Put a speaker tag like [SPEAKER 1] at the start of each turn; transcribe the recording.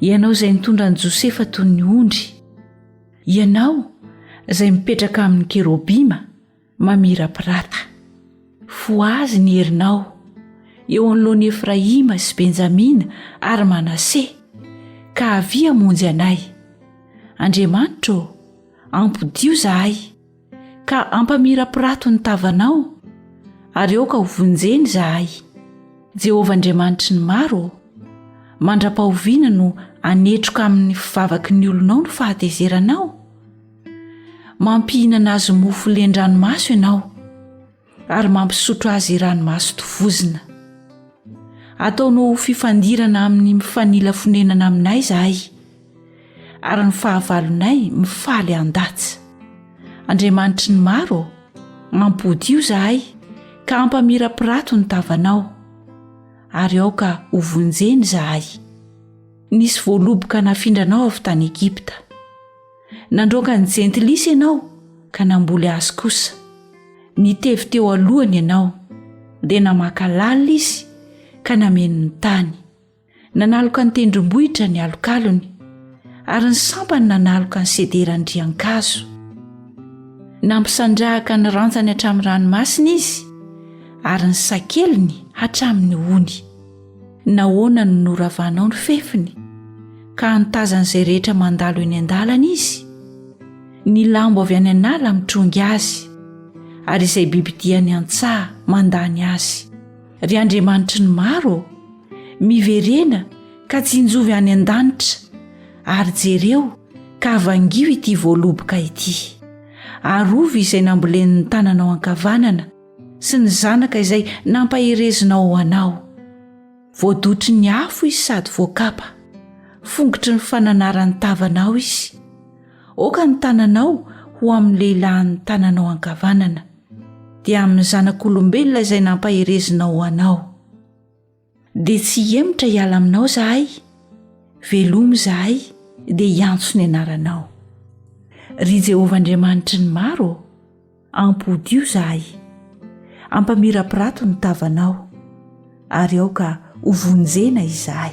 [SPEAKER 1] ianao izay nitondra an'i josefa toy ny ondry ianao izay mipetraka amin'ny kerobima mamirapirata fo azy ny herinao eo anoloany efraima sy benjamina ary manase ka avia monjy anay andriamanitra ô ampodio zahay ka ampamirapirato ny tavanao ary aoka ho vonjeny izahay jehovah andriamanitry ny maro ô mandra-pahoviana no anetroka amin'ny fivavaky ny olonao no fahatezeranao mampihinana azy mofo len-dranomaso ianao ary mampisotro azy ranomaso tovozina ataonao ho fifandirana amin'ny mifanila fonenana aminay izahay ary ny fahavalonay mifaly an-datsa andriamanitry ny maro mampodio izahay ka hampamirapirato ny tavanao ary aoka ho vonjeny izahay nisy voaloboka nafindranao avy tany egipta Nandroaka ny jentilisa ianao ka namboly azy kosa. Nitevy teo alohany ianao, dia namaka lalina izy ka nameno ny tany. Nanaloka ny tendrombohitra ny alokalony, ary ny sampany nanaloka ny sederan-driankazo. Nampisandrahaka ny rantsany hatramin'ny ranomasina izy, ary ny sakeliny hatramin'ny ony. Nahoana no noravanao ny fefiny ka antazan'izay rehetra mandalo eny an-dalana izy? Ny lambo avy any an'ala mitrongy azy ary izay bibidia any an-tsaha mandany azy. Ry Andriamanitry ny maro ô, miverena ka tsinjovy any an-danitra ary jereo ka vangio ity voaloboka ity. Arovy izay nambolen'ny tananao ankavanana. sy ny zanaka izay nampaherezinao ho anao voadotry ny afo izy sady voakapa fongotry ny fananaran'ny tavanao izy oka ny tananao ho amin'ny lehilahin'ny tananao ankavanana dia amin'ny zanak'olombelona izay nampaherezinao ho anao Dia tsy hihemotra hiala aminao izahay, velomy izahay dia hiantso ny anaranao. Ry Jehovah Andriamanitry ny maro ô, ampodio izahay. Ampamirapirato ny tavanao, ary aoka hovonjena izahay.